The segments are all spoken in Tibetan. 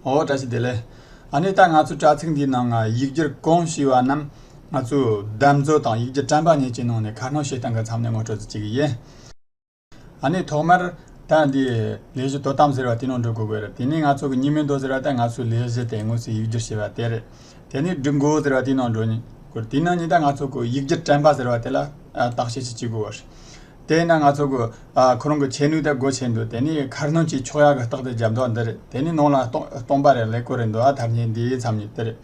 ཨོ་བཀྲ་ཤིས་བདེ་ལེགས། ཨ་ནེ་ད་ང་ཚོ་དྲ་ཚིགས་འདིའི་ནང་ཡིག་སྒྱུར་གང་ཞུས་བ་རྣམས་ང་ཚོས་བདམས་བཟོ་དང་ཡིག་སྒྱུར་དྲན་པ་ཉིད་ཀྱི་ནང་ནས་ཁ་སྣོན་བྱེད་སྟངས་གི་མཚམས་ནས་ངོ་སྤྲོད་རྩིས་བྱེད་ཀྱི་ཡིན། ཨ་ནེ་ཐོག་མར་ད་འདི་ལས་གཞི་དོ་དམ་ཟེར་བ་དེ་ནང་འགྲོ་དགོས་རེད་དེ་ནས་ང་ཚོ་གི་གཉིས་མེད་འདོགས་ཟེར་བ་ད་ང་ཚོའི་ལས་གཞི་དེ་དངོས་སུ་ཡིག་སྒྱུར་བྱེད་པ་དེ་རེད། དེ་ནས་སྒྲིག་འགོ་ཟེར་བ་དེའི་ནང་འགྲོ་དགོས། དེའི་ནང་ཉིད་ད་ང་ཚོ་གི་ཡིག་སྒྱུར་དྲན་པ་ཟེར་བ་དེ་ལ་བརྟག་དཔྱད་ཅིག་བྱེད་དགོས་པ་རེད། དེས་ན་ང་ཚོ་ཁོ་རང་གི་བྱེད་ནུས་དེ་སྒོ་ཕྱེ་འདུག་དེ་ནི་ཁར་ནང་གི་ཕྱོགས་ཡག་གི་རྟགས་དེ་རྒྱབ་འདོགས་འདི་རེད་དེ་ནི་ནང་ལ་སྟོང་པ་རེད་ལེགས་པོ་རེད་འདུག་ཨ་ཐར་ཉིན་འདིའི་མཚམས་ཉིད་དེ་རེད།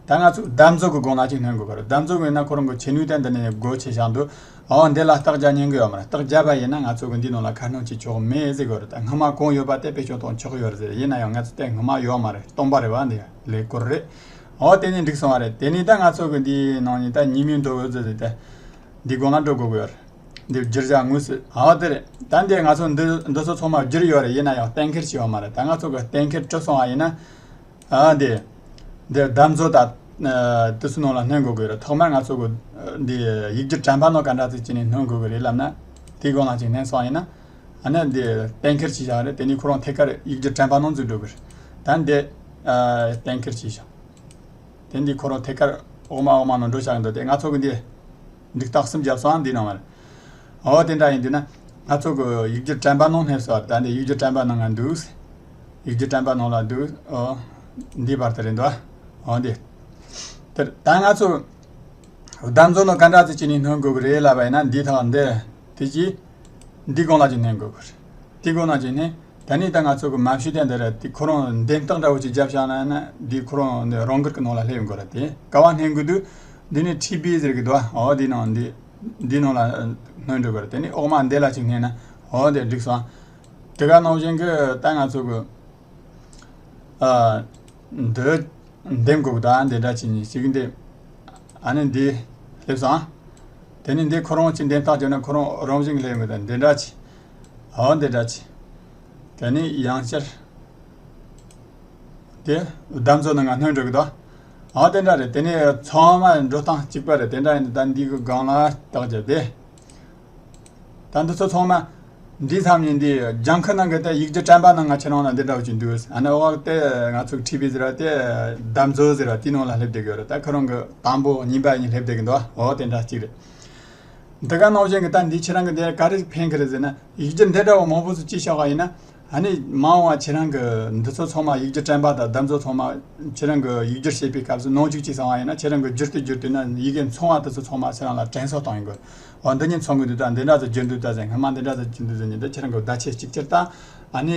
ད་ང་ཚོས་གདམ་རྫོགས་ཀྱི་སྒོ་ང་གཅིག་སྣོན་དགོས་པ་རེད་གདམ་རྫོགས་མེད་ན་ཁོ་རང་གི་བྱེད་ནུས་དེ་འདི་ནས་སྒོ་ཕྱེ་བཞག་འདུག་འོན་དེ་ལ་རྟགས་རྒྱག་ཉན་གི་ཡོད་མ་རེད་རྟགས་རྒྱག་པ་ཡིན་ན་ང་ཚོ་གི་འདིའི་ནང་ལ་ཁར་ནང་གི་ཕྱོགས་མེད་ཟེར་གི་རེད་སྔོན་མ་གང་ཡོད་པ་དེ་བེད་སྤྱོང་དང་ཆོག་གི་ཡོད་ཟེར་ཡིན་ན་ཡང་ང་ཚོ་དེ་སྔོན་མ་ཡོད་མ་རེད་སྟོང་པ་རེད་བ་འདི་ལེགས་པོ་རེད་འོ་དེ་ནི་འགྲིག་སོང་བ་རེད་དེ་ནི་ད་ང་ཚོ་གི་འདིའི་ནང་ནས་ད་ཉིན་མོའི་འགྲོ་འོས་ཟེར་ཏེ་འདི་སྒོ་ང་འགྲོ་དགོས་ཀྱི་ཡོད་རེད། འདིར་བསྒྱུར་བྱ་དངོས་སུ་འོ་དེ་རེད་ད་འདིར་ང་ཚོ་འདི་ཚོ་ཚང་མ་བསྒྱུར་ཡོད་རེད་ཡིན་ན་ཡང་གཏན་འཁེལ་བྱས་ཡོད་མ་རེད་ད་ང་ཚོ་གི་གཏན་འཁེལ་གྲུབ་སོང་བ་ཡིན་ན་འོ་དེ་འདིར་བདམས་ཚོ་ད་དུས་ཚོད་ནང་ལ་སྣོན་དགོས་ཀྱི་རེད་ཐོག་མར་ང་ཚོ་འདི་ཡིག་རྒྱུགས་དྲ་འབག་ནང་ག་འདྲ་ཚིག་ཅིག་ནས་སྣོན་དགོས་ཀྱི་རེད་ལབ་ན་དེའི་སྒང་ལ་ཅིག་སྣོན་སོང་ཡིན་ན་ཨ་ནི་འདི་གཏན་འཁེལ་བྱས་བཞག་རེད་དེ་ནས་ཁོ་རང་ཐད་ཀར་ཡིག་རྒྱུགས་དྲ་འབག་ནང་འཛུལ་འགྲོ་གི་རེད་ད་འདི་གཏན་འཁེལ་བྱས་བཞག་དེ་འདི་ཁོ་རང་ཐད་ཀར་འོག་མ་འོག་མ་ནང་འགྲོ་བཞག་གི་འདུག་སྟེ་ང་ཚོ་གི་འདི་འདི་རྟགས་སུམ་བརྒྱ་སོའང་འདི་སྣང་བར། འོ་དེ་འདྲ་ཡིན་དུས་ན། སྣ་ཚོགས་ཀྱི་ཡིག་བརྒྱུད་དྲན་པ་ནང་སྣེབས་སོ། ད་འདི་ཡིག་བརྒྱུད་དྲན་པ་ནང་ང་འདུག། ཡིག་བརྒྱུད་དྲན་པ་ནང་ལ་འདུག། འོ། འདིའི་བར་དུ་རེད་འདུག་ཨ། འོ་འདི། དེར། ད་ང་ཚོ། བདག་འཛོམས་ལ་ག་འདྲ་ཚུལ་གྱིས་ནི་སྣོན་དགོས་ཀྱི་རེད་ལབ་པ་ཡིན་ན་འདི་དང་འདི། དེ་རྗེས། འདི་གང་ལ་ཅིག་སྣོན་དགོས་ཀྱི་རེད། འདི་གང་ལ་ཅིག་སྣོན། ད་ནི་ད་ང་ཚོ་གི་མ་བྱུས་དེ་འདི་རེད་དེ་ཁོ་རང་འདན་སྟག་འདྲ་བོ་ཅིག་རྒྱབ་བཞག་ན་ན་དེ་ཁོ་རང་འདི་རང་དགར་གི་ནང་ལ་སླེབས་དགོས་རེད་དེ་ཀ་བ་སྣེན་དགོས་དུས་འདི་ནི་ཁྲི་སྦི་ཟེར་གི་འདུག་ཨ་འོ་དེ་ནང་འདི་འདི་ནང་ལ་སྣོན་འགྲོ་དགོས་རེད་དེ་ནི་ཨོག་མ་འདེད་ལ་ཅིག་སྣེན་ན་འོ་དེ་འགྲིག་སོང་དེ་ག་ནང་བཞིན་གི་ད་ང་ཚོ་གི་ཨ་འདི་འདེམས་དགོས་གི་འདུག་ཨ་འདི་འདྲ་ཅིག་ཉིག་ཅིག་འདེམས་ཨ་ནི་འདི་སླེབས་སོང་དེ་ནི་འདི་ཁོ་རང་ཅིག་འདན་སྟག་བྱོན་ན་ཁོ་རང་རང་བཞིན་གྱི་སླེབས་ཡོང་གི་འདུག་འདི་འདྲ་ཅིག། འོན་ཏེ་སྒྲ་ཆེ། དེ་ནི་ཡང་སྤྱིར། དེ་བདམས་ཚོ་ནི་ང་སྣོད་འགྲོ་གི་དོ། འོན་ཏེ་འདྲ་རེད་དེ་ནི་ཚང་མ་འགྲོ་སྟངས་གཅིག་པ་རེད་དེ་འདྲ་ཡིན་ད་འདི་གི་སྒང་ལ་བརྟག་བྱ་དེ། ད་འདི་ཚོ་ཚང་མ། འདི་ཚང་མས་འདི་ལྗང་ཁུ་ནང་གི་དེ་ཡིག་རྒྱུ་དྲན་པ་ན་ང་ཁྱེད་རང་ལ་འདི་འདྲ་འོ་ཅིག་འདུག་ཨ་ནི་འོག་དེ་ང་ཚོ་ཁྲིད་པའི་ཟེར་བ་དེ་བདམས་ཚོ་ཟེར་བ་དེའི་ནང་ལ་སླེབས་བསྡད་ཀྱི་ཡོད་རེད་ད་ཁོ་རང་གི་དང་པོ་གཉིས་པ་གཉིས་སླེབས་བསྡད་ཀྱི་འདུག་འོ་དེ་འདྲ་གཅིག་རེད། འདི་ག་ནོར་ཅན་གྱི་རྟ་འདི་ཁྱེད་རང་གི་འདི་ག་རེ་འཕེན་གི་རེད་ཟེར་ན་ཡིག་རྒྱུ་འདི་འདྲ་བ་མང་པོ་ཚོས་ཅི་ཤ་བ་ཡིན་ན་ནི་མང་བ་ཁྱེད་རང་གི་འདི་ཚོ་ཚང་མ་ཡིག་རྒྱུ་དྲན་པ་དང་བདག་ཚོ་ཚང་མ་ཁྱེད་རང་གི་ཡིག་རྒྱུར་བྱེད་པའི་སྐབས་སུ་ནོར་འཇུག་ཅིག་བཟང་བ་ཡིན་ན་ཁྱེད་རང་གི་རྒྱུར་དུ་བསྒྱུར་དུས་ན་ཡི་གེ་མཚུངས་བ་དེ་ཚོ་ཚང་མ་ཁྱེད་རང་ལ་དྲན་གསོ་གཏོང་ཡོང་དགོས་འོ་འདི་གཉིས་མཚུངས་གི་འདུག་ད་འདི་འདྲ་ཚོ་བསྒྱུར་འདུག་ད་ཟེར་སྔ་མ་འདི་འདྲ་ཚོ་བསྒྱུར་འདུག་ཟེར་ནས་ད་ཁྱེད་རང་གི་བརྡ་ཆད་ཅིག་ཅར་ད་ཨ་ནི།